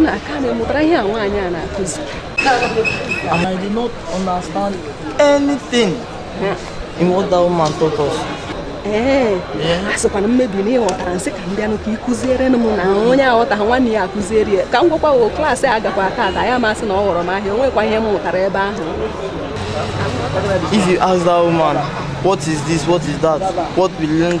nnaa aka na ị mụtara ihe a nwaanyị a na-akụzi and I did not understand anything in what that woman taught us. ee asịkwanụ m maybe na ị ghọtara m sị ka m bịanụ ka ị kụzierenụ m na onye aghọtaghị nwanne ya akụziere ya ka m gwakwa o klaasị a gakwa tata ya masị na ọ ghọrọ m ahịa o nwekwa ihe m mụtara ebe ahụ If you ask that woman, what is this, what is that, what we learned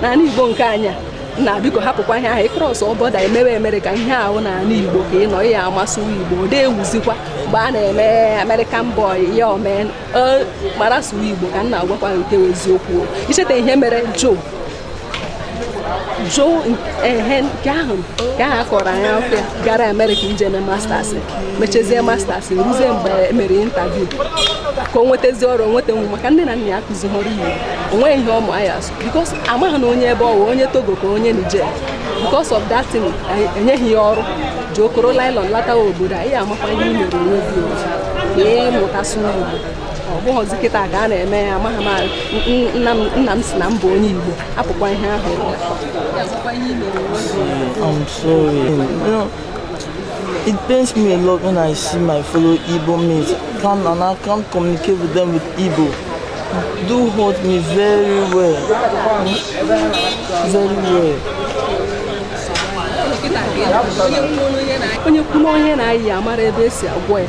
n'ala Igbo nke anyị a nnaa biko hapụkwa ihe ahụ ị krọsọ bọda emewe America ihe ahụ n'ala Igbo ka ị nọ ya amasị Igbo ọ na-ewuzikwa mgbe a na-eme American boy ya omee mara sụwa Igbo ka m na-agwakwa nke eziokwu i cheta ihe mere Joe jụụ ehe nke ahụ nke ahụ a kọrọ anyị afụ gara amerịka ije eme masters mechezie masters ruzie mgbe e mere intaviu ka o nwetazi ọrụ nweta nwa maka nne na nna ya akụzihọrọ Igbo o nweghị ihe ọ ma ya because amaghị na onye ebe ọ wụ onye togo ka onye niger because of that thing enyeghị ya ọrụ ji okoro nylon lata obodo anyị ị makwa ihe i mere onwe gị ka ị mụta asụ igbo ọ bụghịzi kịta ka a na-eme ya amaghị m nna m sị na m bụ onye igbo hapụkwa ihe ahụ It pains me a lot when I see my fellow Igbo mates come and I can't communicate with them with Igbo. Do hurt me very well. Very well. onye kwuru onye na-ayị amara ebe esi agwọ ya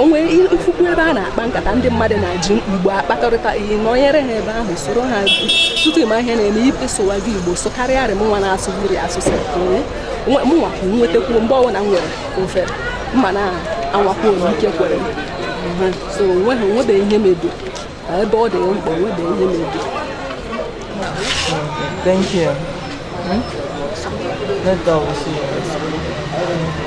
o nwere ị fụkwa ebe a na-akpa nkata ndị mmadụ na-eji Igbo akpakọrịta ị nọnyere ha ebe ahụ soro ha tutu ị ma ihe na-eme ị sụwa gị Igbo sụkarịa rị mụnwa na-asụ mmiri asụsụ mụnwa nwetakwu mgbe ọbụla m nwere ofere m ana-anwakwa ike kwere so o nweghị o nwebe ihe mebi ebe ọ dị mkpa o nwebe ihe mebi Thank you. Hmm? Let go. See you.